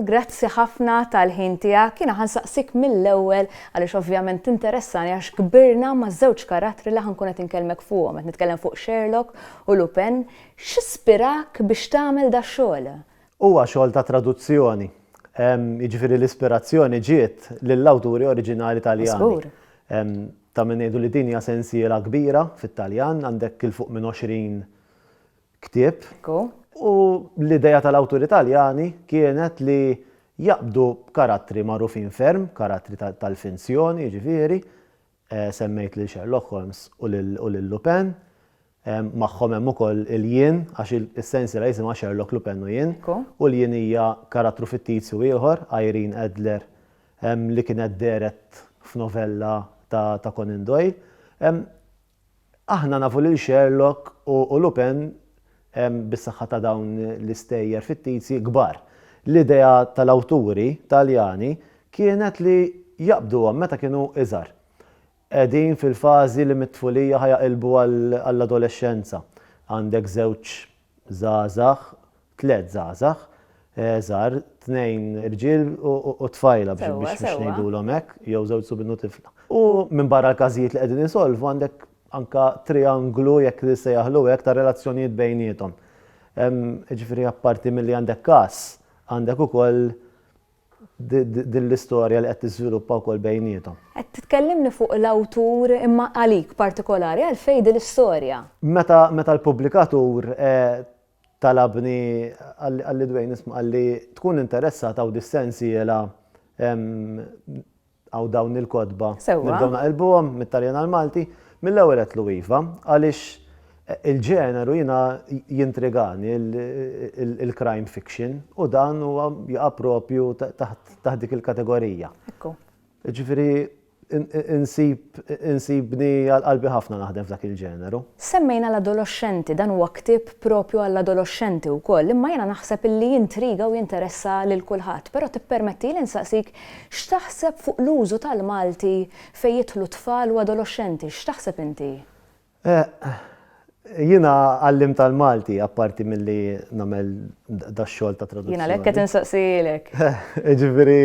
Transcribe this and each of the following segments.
Grazzi ħafna tal-ħin tiegħek. Kiena ħansaqsik mill-ewwel għaliex ovvjament tinteressani għax kbirna ma' żewġ karattri li ħankun qed inkellmek fuqhom. Qed nitkellem fuq Sherlock u Lupin. X'ispirak biex tagħmel dax-xogħol? Huwa xogħol ta' traduzzjoni, jiġifieri l-ispirazzjoni ġiet lill-awturi oriġinali Taljani. Ta' min ngħidu li din hija sensiela kbira fit-Taljan, għandek 'il fuq minn 20 ktieb. U l-idea tal-awturi Taljani kienet li jaqbdu karattri magħrufin ferm, karattri tal-finzjon jiġifieri, Semmejt lil Sherlock Holmes u lil Lupin. Magħhom hemm ukoll il-jien, għax is-sensiela jisimha Sherlock, Lupin u Jien. U l-jien hija karattru fittizju ieħor, Irene Adler, li kienet dehret f'novella ta' Conan Doyle. Aħna nafu lil Sherlock u Lupin bis-saħħa ta' dawn l-istejjer fittizji kbar. L-idea tal-awturi Taljani kienet li jaqbduhom meta kienu iżgħar. Qegħdin fil-fażi li mit-tfulija ħa jaqilbu għall-adolexxenza. Għandek żewġ żgħażagħ tliet żgħażagħ żgħar, tnejn irġiel u tfajla biex ngħidulhom hekk, jew żewġ subien u tifla. U minbarra l-każijiet li qegħdin isolvu għandek anke trianglu jekk nissejjaħlu hekk ta' relazzjonijiet bejniethom. Jiġifieri apparti milli għandek każ, għandek ukoll din l-istorja li qed tiżviluppa wkoll bejniethom. Qed titkellimni fuq l-awtur imma għalik partikolari għalfejn din l-istorja? Meta l-pubblikatur Talabni, qalli Dwayne, isma' qalli tkun interessat hawn dis-sensiela hawn dawn il-kotba. Sewwa. Nibdew naqilbuhom mit-Taljan għall-Malti. Mill-ewwel għedtlu iva għaliex il-ġeneru jiena jintrigani il-crime fiction u dan huwa jaqa' propju taħt dik il-kategorija. Ekku. Jiġifieri Insibni għal qalbi ħafna naħdem f'dak il-ġeneru. Semmejna l-adoloxxenti, dan huwa ktieb proprju għall-adoloxxenti wkoll, imma jiena naħseb li jintriga u jinteressa lil kulħadd. Però tippermettili nsaqsik x'taħseb fuq l-użu tal-Malti fejn jidħlu tfal u adoloxxenti, x'taħseb inti? Jiena għallimt għall-Malti, apparti milli nagħmel dax-xogħol ta' traduzzjoni. Jiena għalhekk qed insaqsielek. Jiġifieri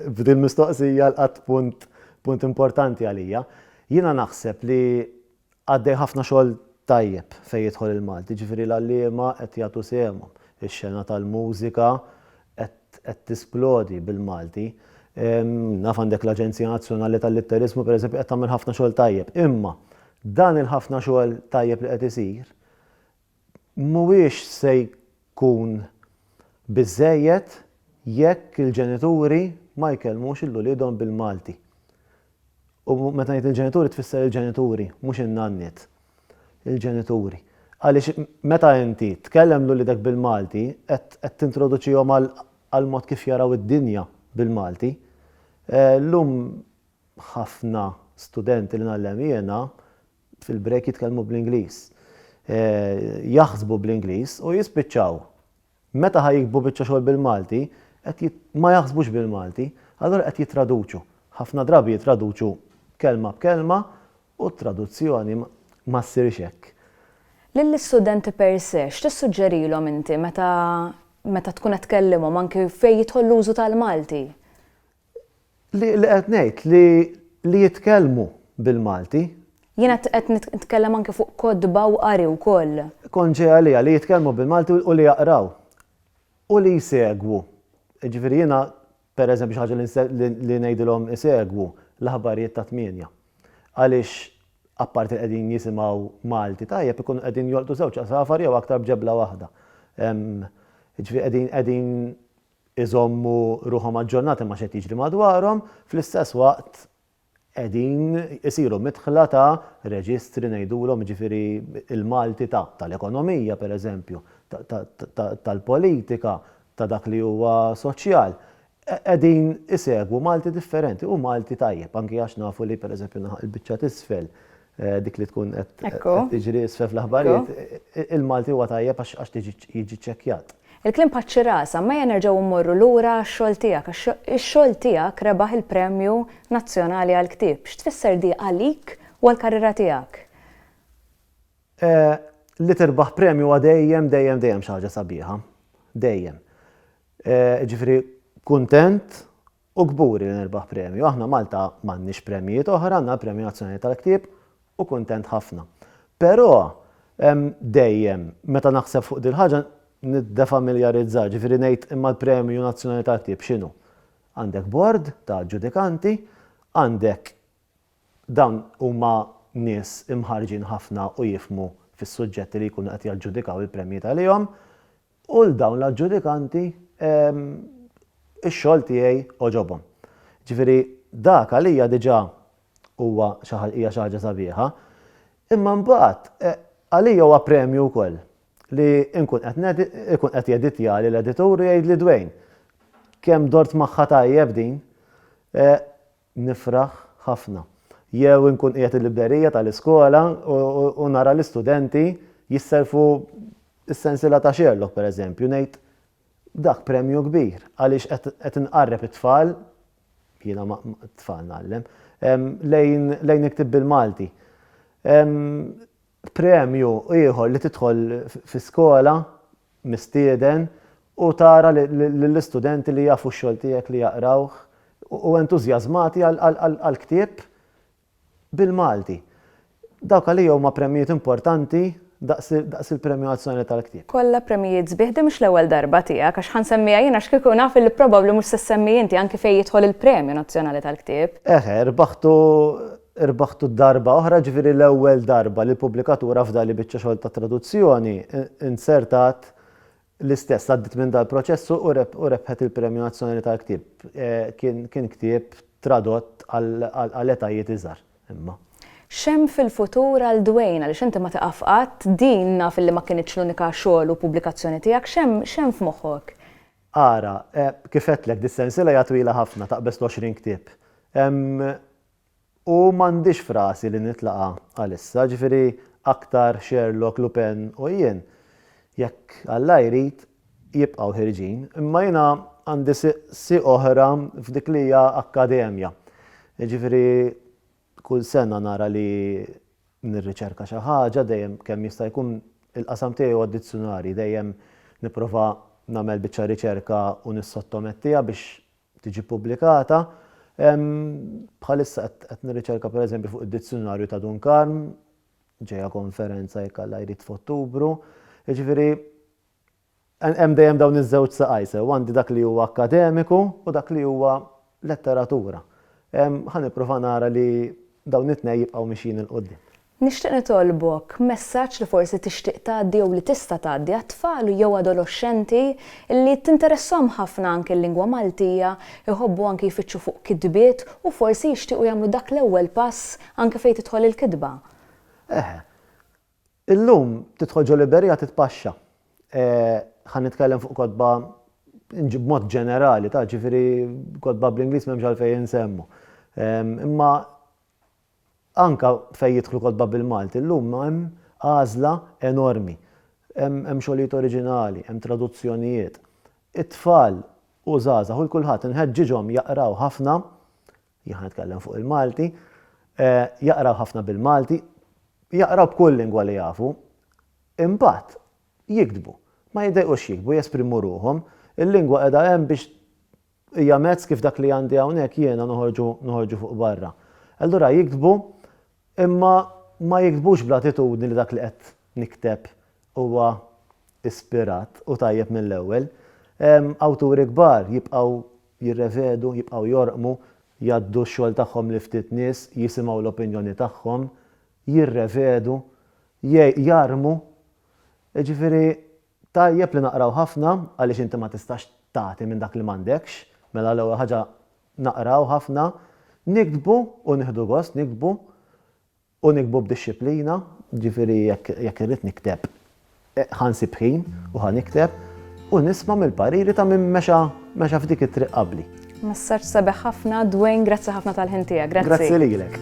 f'din mistoqsija lqatt punt punt importanti għalija. Jiena naħseb li għaddej ħafna xogħol tajjeb fejn jidħol il-Malti, jiġifieri l-għalliema qed jagħtu sehemhom, ix-xena tal-mużika, qed tisplodi bil-Malti. Naf għandek l-Aġenzija Nazzjonali tal-Litteriżmu pereżempju qed tagħmel ħafna xogħol tajjeb. Imma dan il-ħafna xogħol tajjeb li qed isir mhuwiex se jkun biżżejjed jekk il-ġenituri ma jkellmux lil uliedhom bil-Malti. U meta ngħid il-ġenituri tfisser il-ġenituri, mhux in-nanniet. Il-ġenituri. Għaliex meta inti tkellem lil uliedek bil-Malti qed qed tintroduċihom għal għall-mod kif jaraw id-dinja bil-Malti. Llum ħafna studenti li ngħallem jiena fil-break jitkellmu bl-Ingliż. Jaħsbu bl-Ingliż u jispiċċaw Meta ħa jiktbu biċċa xogħol bil-Malti, qed jit, ma jaħsbux bil-Malti, allura qed jittraduċu. Ħafna drabi jittraduċu kelma b'kelma u t-traduzzjoni ma, ma ssirx hekk. Lill-istudenti per se, x'tissuġġerilhom inti meta, meta tkun qed tkellimhom anki fejn jidħol l-użu tal-Malti? Li qed ngħid li li jitkellmu bil-Malti. Jiena qed nitkellem anke fuq kotba u qari wkoll. Konġi għalija li jitkellmu bil-Malti u li jaqraw u li jsegwu. Jiġifieri jiena pereżempju xi ħaġa li ngħidilhom isegwu l-aħbarijiet tat-tmienja. Għaliex apparti li qegħdin jisimgħu Malti tajjeb ikunu qegħdin jolqtu żewġ għasafar jew aktar b'ġebla waħda. Jiġifieri qegħdin qegħdin iżommu ruħhom aġġornati ma' xi qed jiġri madwarhom, fl-istess waqt qegħdin isiru midħla ta' reġistri ngħidulhom, jiġifieri l-Malti ta' tal-ekonomija pereżempju, tal-politika, ta' dak li huwa soċjal. Qegħdin isegwu Malti differenti u Malti tajjeb, anki għax nafu li pereżempju naħa il-biċċa t'isfel dik li tkun qed tiġri isfel fl-aħbarijiet, il-Malti huwa tajjeb għax tiġi jiġi ċċekkjat. Il-kliem paċċi rasa, mejja nerġgħu mmorru lura għax-xogħol tiegħek għax ix-xogħol tiegħek rebaħ il-Premju Nazzjonali għall-Ktieb. X'tfisser di għalik u għall-karriera tiegħek? Li tirbaħ premju huwa dejjem, dejjem, dejjem xi ħaġa sabiħa. Dejjem. Jiġifieri kuntent U kburi li nirbaħ premju. Aħna Malta m'għandniex premjijiet oħra, għandna l-Premju Nazzjonali tal-Ktieb u kuntent ħafna. Però hemm dejjem, meta naħseb fuq dil-ħaġa niddefamiljarizza, ġifieri ngħid imma l-Premju Nazzjonali tal-Ktieb x'inhu? Għandek bord ta' ġudikanti, għandek dawn huma nies imħarrġin ħafna u jifhmu fis-suġġetti li jkunu qed jaġġudikaw il-premji għalihom, U 'l dawn l-aġġudikanti, ix-xogħol tiegħi għoġobhom. Jiġifieri dak għalija diġà huwa xi hija xi ħaġa sabiħa. Imma mbagħad għalija huwa premju wkoll li nkun qed ikun qed jeditjali l-editur u jgħidli Dwayne, kemm dort magħha tajjeb din. nifraħ ħafna. Jew inkun qiegħed il-librerija tal-iskola u nara l-istudenti jisselfu s-sensiela ta' Sherlock pereżempju, ngħid dak premju kbir għaliex qed inqarreb it-tfal, jiena t-tfal ngħallem, lejn iktib bil-Malti. Premju ieħor li tidħol fi skola mistieden u tara lill-istudenti li jafu x-xogħol tiegħek li jaqrawh u entużjażmati għal ktieb bil-Malti. Dawk għalija huma premjijiet importanti daqs il-Premju Nazzjonali tal-Ktieb. Kollha premjijiet sbieħ, din mhux l-ewwel darba tiegħek għax ħa nsemmiha jien għax kieku naf li probabbli mhux se ssemmi inti anki fejn jidħol il-Premju Nazzjonali tal-Ktieb. Eħe, rbaħtu Irbaħtu darba oħra, ġifieri l-ewwel darba li l-pubblikatur afda li biċċa xogħol ta' traduzzjoni inzertat l-istess għaddiet minn dal-proċess u rebħet il-Premju Nazzjonali tal-Ktieb. Kien ktieb tradott għal etajiet iżgħar, imma. X'hemm fil-futur għal Dwayne, għaliex inti ma tieqaf qatt, din naf li ma kinitx l-unika xogħol u pubblikazzjoni tiegħek, x'hemm f'moħħok? Ara, kif għedtlek, dis-sensiela hija twila ħafna, taqbeż l-20 ktieb. Hemm U m'għandix f'rasi li nitlaqa' għalissa, ġifieri aktar Sherlock, Lupin u jien, jekk Alla jrid, jibqgħu ħierġin, imma jiena għandi si oħra f'dik li hija akkademja. Jiġifieri kull sena nara li nirriċerka xi ħaġa, dejjem kemm jista' jkun il-qasam tiegħi huwa d-dizzjunarji, dejjem nipprova nagħmel biċċa riċerka u nissottomettiha biex tiġi ppubblikata. Bħalissa qed nirriċerka pereżempju fuq id-dizzjunarju ta' Dun Karm, ġejja konferenza jekk Alla jrid f'Ottubru. Jiġifieri hemm dejjem dawn iż-żewġ saqaj sew, għandi dak li huwa akkademiku u dak li huwa letteratura. Ħa nipprova nara li dawn it-tnejn jibqgħu mixjin 'il quddiem. Nixtieq nitolbok messaġġ li forsi tixtieq tgħaddi jew li tista' tgħaddi għat-tfal jew adoloxxenti li tinteressahom ħafna anke l-lingwa Maltija, iħobbu anke jfittxu fuq kitbiet u forsi jixtiequ jagħmlu dak l-ewwel pass anke fejn tidħol il-kitba. Eħe. Illum tidħol ġo Liberia titpaxxa. Ħa nitkellem fuq kotba b'mod ġenerali, ta' ġifieri kotba bl-Ingliż m'hemmx għalfejn insemmu. Imma Anke fejn jidħlu kotba bil-Malti llum hemm għażla enormi. Hemm hemm xogħlijiet oriġinali, hemm traduzzjonijiet. It-tfal u żgħażagħ u l-kulħadd inħeġġiġhom jaqraw ħafna, jien ħa nitkellem fuq il-Malti, jaqraw ħafna bil-Malti, jaqraw b'kull lingwa li jafu. Imbagħad jiktbu. Ma jiddejqux jiktbu, jesprimu ruħhom. Il-lingwa qiegħda hemm biex Hija mezz kif dak li għandi hawnhekk jiena noħorġu noħorġu fuq barra. Allura jiktbu imma ma jiktbux bl-attitudni li dak li qed nikteb huwa ispirat u tajjeb mill-ewwel. Awturi kbar jibqgħu jirrevedu, jibqgħu jorqmu, jgħaddu x-xogħol tagħhom lil ftit nies, jisimgħu l-opinjoni tagħhom, jirrevedu, jgħi, jarmu. Jiġifieri Tajjeb li naqraw ħafna għaliex inti ma tistax tagħti minn dak li m'għandekx, mela l-ewwel ħaġa naqraw ħafna, niktbu u nieħdu gost niktbu u niktbu b'dixxiplina, jiġifieri jekk irrid nikteb ħa nsib ħin u ħa nikteb u nisma' mill-pariri ta' min mexa f'dik it-triq qabli. Messaġġ sabiħ ħafna, Dwayne, grazzi ħafna tal-ħin tiegħek. Grazzi. Grazzi lilek.